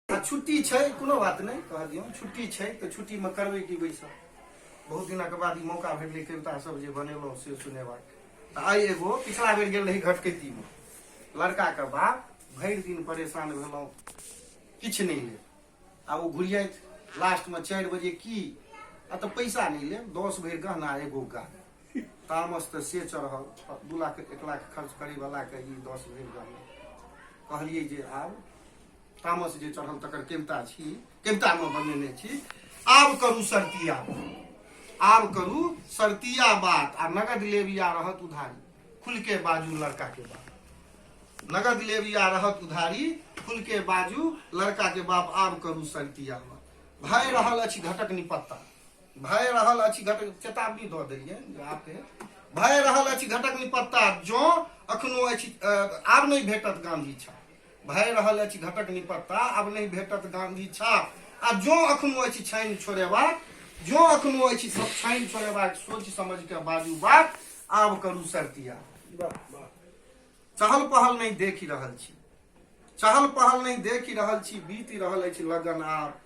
छुट्टी छै कोनो बात नहि कह दियौ छुट्टी छै तऽ छुट्टीमे करबै की बैसब बहुत दिनक बाद ई मौका भेटलै कविता सब जे बनेलहुँ से सुनेबाक तऽ आइ एगो पिछला बेर गेल रही घटकैतीमे लड़काके बाप भरि दिन परेशान भेलहुँ किछु नहि ले आ ओ घुरियत लास्टमे चारि बजे की आ तऽ पैसा नहि ले दस भरि गहना एगो गा तामस तऽ से चढ़ल दू लाख एक लाख खर्च करैवलाके ई दस भरि गहना कहलियै जे आब तामस जे चढ़ल तकर केमता छी केमता में बनेने छी आब करू सरतिया आब करू सरतिया बात आ नगद लेब या रहत उधारी खुल के बाजू लड़का के बाप नगद लेब या रहत उधारी खुल के बाजू लड़का के बाप आब करू सरतिया बात भय रहल अछि घटक निपत्ता भय रहल अछि घटक चेतावनी दऽ देलियै जे आपके भय रहल अछि घटक निपत्ता जँ अखनो अछि अ, आब नहि भेटत गांधी छाप भए रहल अछि घटक निपत्ता आब नहि भेटत गांधी छाप आ जो अखनो अछि छानि छोड़ेबाक जो अखनो अछि सब छानि छोड़ेबाक सोच समझ के बाजू बात आब करू सरतिया चहल पहल नहीं देखि रहल छी चहल पहल नहीं देखि रहल छी बीति रहल अछि लगन आब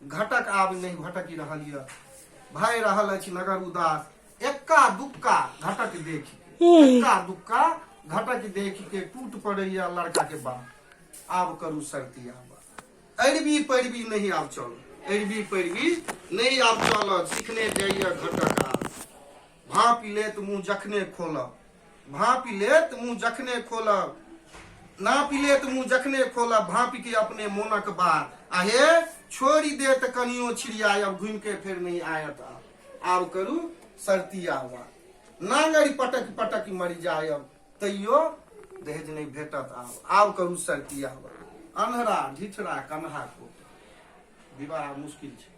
घटक आब नहि भटकि रहल यऽ भय रहल अछि नगर उदास एक्का दुक्का घटक देख एक्का दुक्का घटक देख के टूट पड़ैया लड़का के बाप आब करू सर्दी आब अरबी पैरवी नहीं आब चल अरबी पैरवी नहीं आब चल सीखने जाइया घटक आब भाँपि लेत मुँह जखने खोलब भाँपि लेत मुँह जखने खोलब नापि लेत मुँह जखने खोलब भाँपि के अपने मोनक बात आ हे छोड़ि देत कनियो छिड़ियायब घुमि के फेर नहि आयत आब करू सरती आवा नांगरि पटक पटक मरि जायब तैयो दहेज नहि भेटत आब आब करू सरती आवा अन्हरा ढिठरा कन्हा को विवाह मुश्किल छै